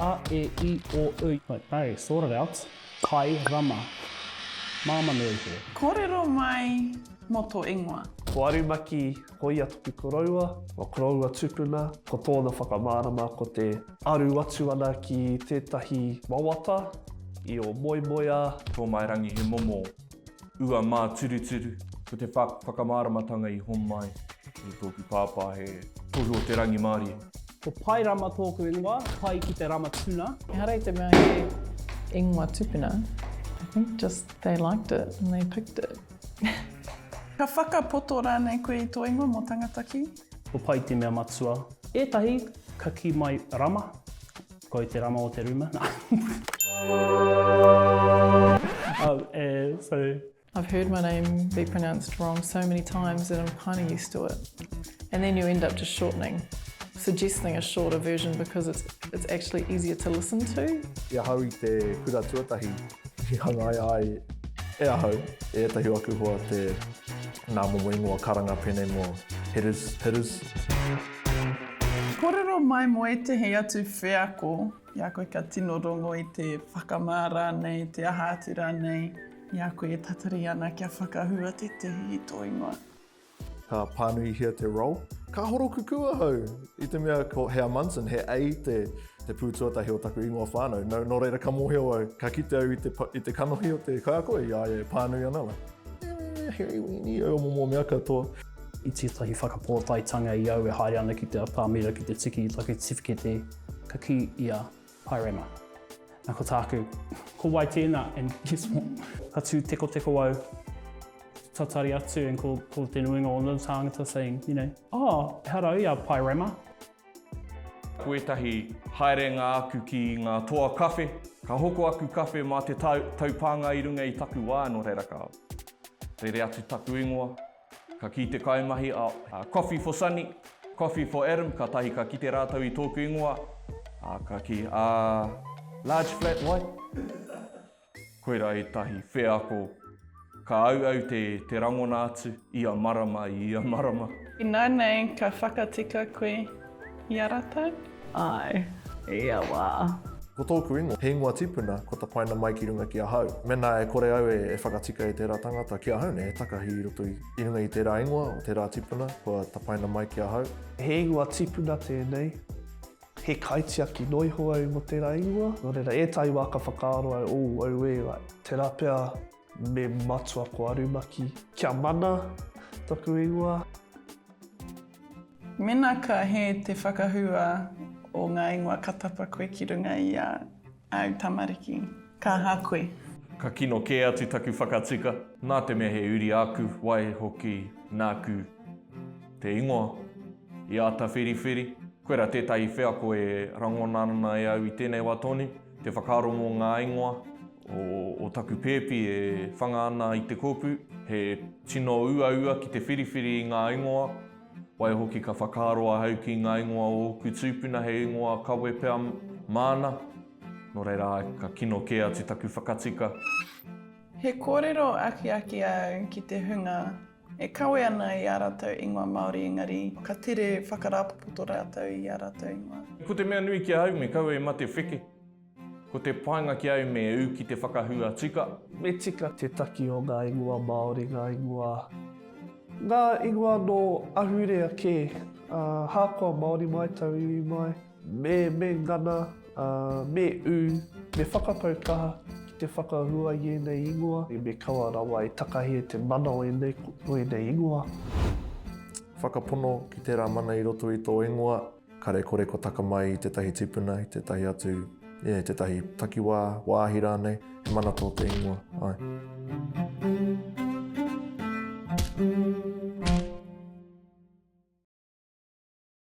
A, e, i, o, u. Ok, sort it out. Kai rama. Māmā nui te. Kōrero mai mō tō ingoa. Ko Arumaki, ko ia taku koroua. Ko koroua tupuna, ko tōna whakamārama ko te. Aru atu ana ki tētahi wawata i o Moemoeā. Tōmairangi he momo. Ua māturuturu, ko te whakamāramatanga i homai i tōku pāpā he tohu o te rangimārie. Ko Pae Rama tōku ingoa, pai ki te rama tuna. Ehara i te mea he ingoa tupuna, I think just they liked it and they picked it. Ka whakapoto rānei koe i tō ingoa mō tangata ki? Ko pai te mea matua. Etahi ka ki mai rama. Koi te rama o te ruma. um, eh, sorry. I've heard my name be pronounced wrong so many times that I'm kind of used to it. And then you end up just shortening, suggesting a shorter version because it's, it's actually easier to listen to. I ahau i te kura tuatahi, i hangaia ai e ahau, e ētahi o aku hoa te Nā momo ingoa karanga pēnei mo Hitters, Hitters. Kōrero mai mō ētehi atu wheako i a koe kia tino rongo i te whakamā rānei, te aha atu rānei i a koe e tatari ana kia whakahua tētehi i tō ingoa. Ka pānuihia te role. Ka horokukū ahau i te mea ko Hea Munson, he A te te pū tuatahi o taku ingoa whānau. Nō reira ka mōhio au, ka kite au i te kanohi o te kaiako i a ia e pānui ana la. Eh, Harry Weenie, au mo mo mea katoa. I tētahi whakapōtaetanga i au e haere ana ki te atamira ki te tiki i taku tiwhikete, ka kī ia, Hi Rama. Na ko tāku, Ko wai tēnā? And guess what? Ka tū tekoteko au, tatari atu, and ko, ko te nuinga o nō tāngata saying, you know, Oh, ehara au i a Pai Rama. Ko ētahi haerenga aku ki ngā toa kawhe, ka hoko aku kawhe mā te taupānga i runga i taku wā nō reira ka rere atu taku ingoa. Ka kī te kaimahi a Coffee for Sunny, Coffee for Adam, kātahi ka kite rātou i tōku ingoa, ā, ka kī, ā, large flat white? Koirā ētahi wheako ka auau te te rangona atu ia marama i ia marama. Ināianei ka whakatika koe i a ratou? Āe, i ia wā. Ko tōku ingoa, he ingoa tipuna, ko tapaina mai ki runga ki ahau. Mēnā e kore au e whakatika e tērā tangata ki ahau nei, he takahi i roto i runga i tērā ingoa o tērā tipuna kua tapaina mai ki ahau. He ingoa tipuna tēnei. He kaitiaki noa iho au mō tērā ingoa, nō reira, ētahi wā ka whakaaro au, oh, auē, tērā pea me matua ko Arumaki, kia mana taku ingoa. Mēnā ka hē te whakahua o ngā ingoa ka tapa koe ki runga i a. Au tamariki, ka ha koe. Ka kino kē atu taku whakatika. Nā te mea he uri āku, waihoki nāku te ingoa. I āta whiriwhiri, koirā tētahi wheako e rangona ana e au i tēnei wā tonu, te whakaaro mō ngā ingoa o taku pēpi e whanga ana i te kōpū. He tino uaua ki te whiriwhiri i ngā ingoa. Waihoki ka whakaaro ahau ki ngā ingoa o ōku tūpuna he ingoa kawe pea māna, nō reira ka kino kē atu taku whakatika. He kōrero akiaki au ki te hunga e kawe ana i ā rātou ingoa Māori engari ka tere whakarāpopoto rātou i ā rātou ingoa. Ko te mea nui ki ahau me kaua i mate wheke. Ko te painga ki au me u ki te whakahua tika. Me tika te taki o nga ingoa Maori, nga ingoa, nga ingoa no ahurea ke, a, hakoa Maori mai, tauiwi mai. Me, me ngana, a, me u, me whakapau kaha ki te whakahua i enei ingoa. Me kaua rawa e takahi e te mana o enei, o enei ingoa. Whakapono ki tera mana i roto i to ingoa. Kare kore kua taka mai i tētahi tipuna, i tētahi atu, i tētahi takiwā, wāhi rānei, he mana tō te ingoa, āe.